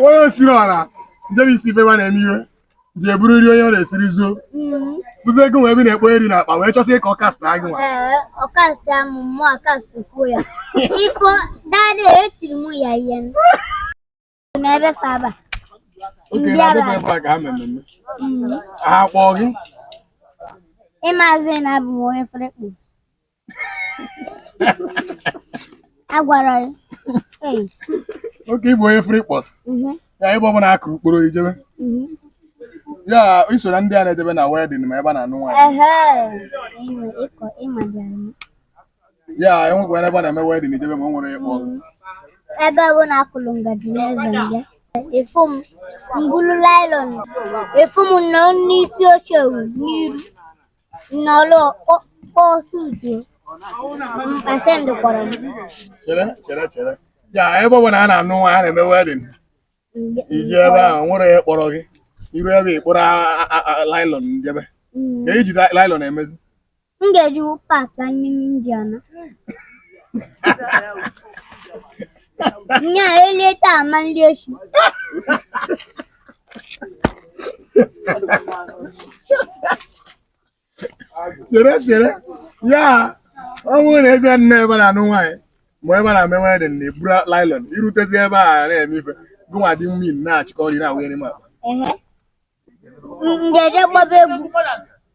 onye osiri ọra njebe isi ife na-eme ihe ji eburu nri onye ọ na-esiri zuo bụzi ego wee bi na-ekpo nri n'akpa wee chọsị ka ọ kast gị nwa ọ kast m mụ akastkwuo ya biko dadị etiri m ya ihe n'ebe saba oke na adịghị ebe a ka ha mmemme ha kpọọ gị ịmazị na abụ m onye free kpọs agwara ya Ei, oke ị bụ onye free kpọs mhm, ya ebe ọ bụla a kụrụ mkpụrụ i jebe mhm. ya i so na ndị a na-ejebe na wedin ma ebe a na-anụ nwaanyị Ehe, ịma ịkọ ịma dị anyị. ya enwekwa ebe a na-eme wedin i jebe ma o nwere ịkpọ ebe ọ bụla a kụlụ ngaji n'eze m bịa ị fụ m m bulu lailọn ị fụ m nọ n'isi oche n'iru n'ọrụ kpọọsụ utu pasent kpọrọ m chere chere chere ya ebe ọbụla a na-anụ nwaanyị a na-eme wedin i jebe ahụ nwere ihe kpọrọ gị i ru ebe ị kpọrọ lailọn njebe ka i ji lailọn emezi m ga-eji paakị anyị n'india na nya elie taa ma nri echi chere chere ya ọ bụrụ na ị bịa n'ebe a na-anụ nwaanyị ma ebe na-eme wedin na-eburu lailon i rutezi ebe a na-eme ife gụnwa dị mmiri na-achịkọ nri na-awụnye n'ime akpa m ga-eje gbaba egwu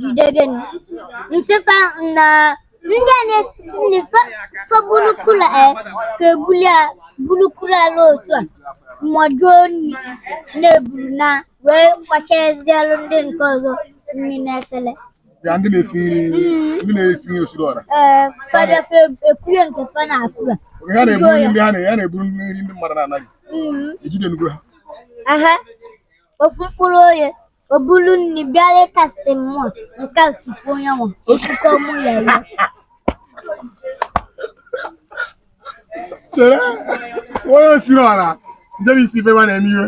Jide gị nị m sị fa na ndị a na-esisi nri fa- fa bulu kula e ka ebuli a bulu kula ala otu a mọjuo nri na-eburu na wee kwachazielu ndị nke ọzọ nri n'efere ya ndị na-esi nri ndị na-esi nri osiri ọra ee fada fa ekunye nke fa na kula oge ha na-eburu nri ndị ha na- ha na-eburu nri ndị mmadụ na-anaghị Mm, ejidenugo ha aha ofu mkpụrụ onye O buru nri bịa na-akast m mụ nke ofufe onye nwa otuto mụ ya ya. chere onye osiri ọra njebe isi ife nwa na-eme ihe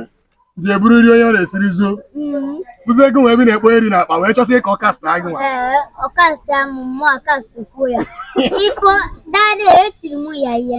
ji eburu nri onye ọ na-esiri zuo Mm, bụzi ego wee bi na-ekpo nri n'akpa wee chọsị ka ọ kast gị nwa Ee, ọ kast mụ mụ akastkwuo ya. Biko, dadị etiri mụ ya ihe.